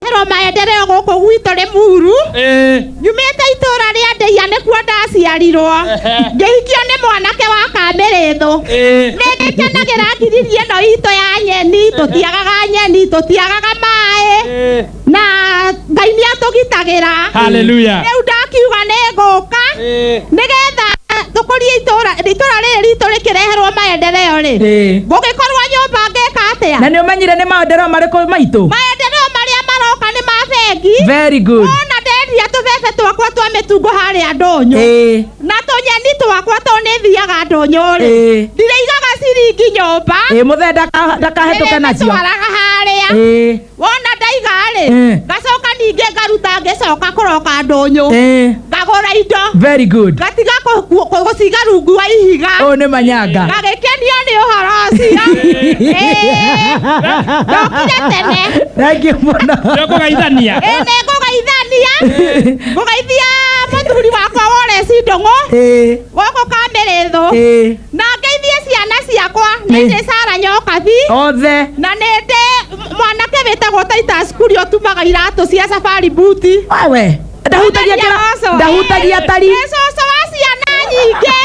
Maciaro maendereo gũkũ gwitũ rĩ muru Eh, nyumĩte itũũra rĩa ndeia nĩkuo ndaciarirwo Ehe. ngĩhikio nĩ mwanake wa kamĩrĩthũ eh, nĩngĩkenagĩra ngiriri ĩno itũ ya nyeni tũtiagaga nyeni tũtiagaga maĩ eh. na ngai nĩatũgitagĩra Hallelujah. rĩu ndakiuga nĩ ngũka Eh. nĩgetha tũkũrie itũra itũra rĩrĩ ritũ rĩkĩreherwo maendereo rĩ Eh. gũgĩkorwo nyũmba ngeka na atĩa nä å menyire nä maendereo marä kå maitå maendereo marĩa maroka nĩ ma bengi very good ona ndendia tũbebe twakwa twa mĩtungo harĩa ndũnyũ Eh. na tũnyeni twakwa to nĩ thiaga ndũnyũ rĩ Eh. ndirĩigaga ciringi nyũmba ä må thee ndakahetå ke nacio ndĩrĩtwaraga harĩa Eh. wona ndaiga-rĩ Eh. ngacoka ningĩ ngaruta ngĩcoka kũroka ndũnyũ Eh, ngagũra indo very good ngatiga kũ- kũ- kũ- gũciga rungu wa ihiga ũyũ nĩ manyanga ngagĩkenio nĩ ũhoro ũcio Eh, ndokire tene thank you mũno Ndio kũgeithania. Ĩ, nĩ ngũgeithania ngũgeithia mũthuri wakwa woreci ndũng'ũ Eh, gũkũ kamĩrĩthũ eh, na ngeithie ciana ciakwa nĩ Nĩ- ndĩ sara nyokabi othe na nĩ ndĩ mwanake wĩtagwo titus kuri ũtumaga iratũ cia safari buti wewe ndahutagia Mwanake kĩra- aroco. ndahutagia tari Nĩ cũcũ wa ciana nyingĩ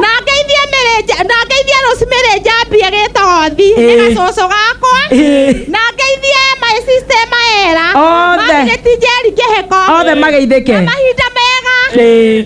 na ngeithie mĩrĩnja na ngeithie rosemary njambie gĩtothi nĩ Ĩĩ. gacũcũ gakwa Ĩĩ. na ngeithie my sister maera Othe. magĩtinjeri kĩhĩko othe mageithĩke mahinda mega Ĩĩ.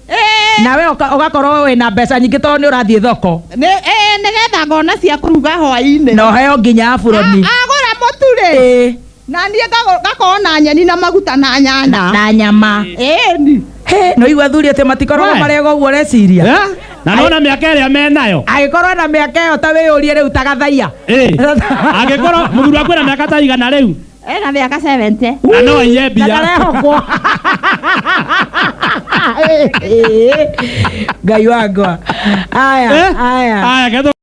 Ĩĩ, nawe ũka- ũgakorwo wĩ na mbeca nyingĩ tondũ nĩ ũrathiĩ thoko nĩ ĩĩ, nĩgetha ngona cia kũruga hwaĩ-inĩ na ũheo nginya buroni A- agũra mũtu rĩ Ĩĩ, na niĩ ngago- ngakorwo na nyeni na maguta na nyanya na na nyama ĩni Hĩ, nĩ ũigua athuri atĩ matikoragwo We. marega ũguo reciria Eh? na nona mä aka ä rä a menayo agĩkorwo na mĩaka ĩyo ta wĩyũrie rĩu ta gathaiya Ĩĩ. angä korwo må thuri wakwä na mä aka ta igana rä u ena mĩaka 70 na no aiye na mbia ndarehokwo ngai wangwa aya aya aya ketho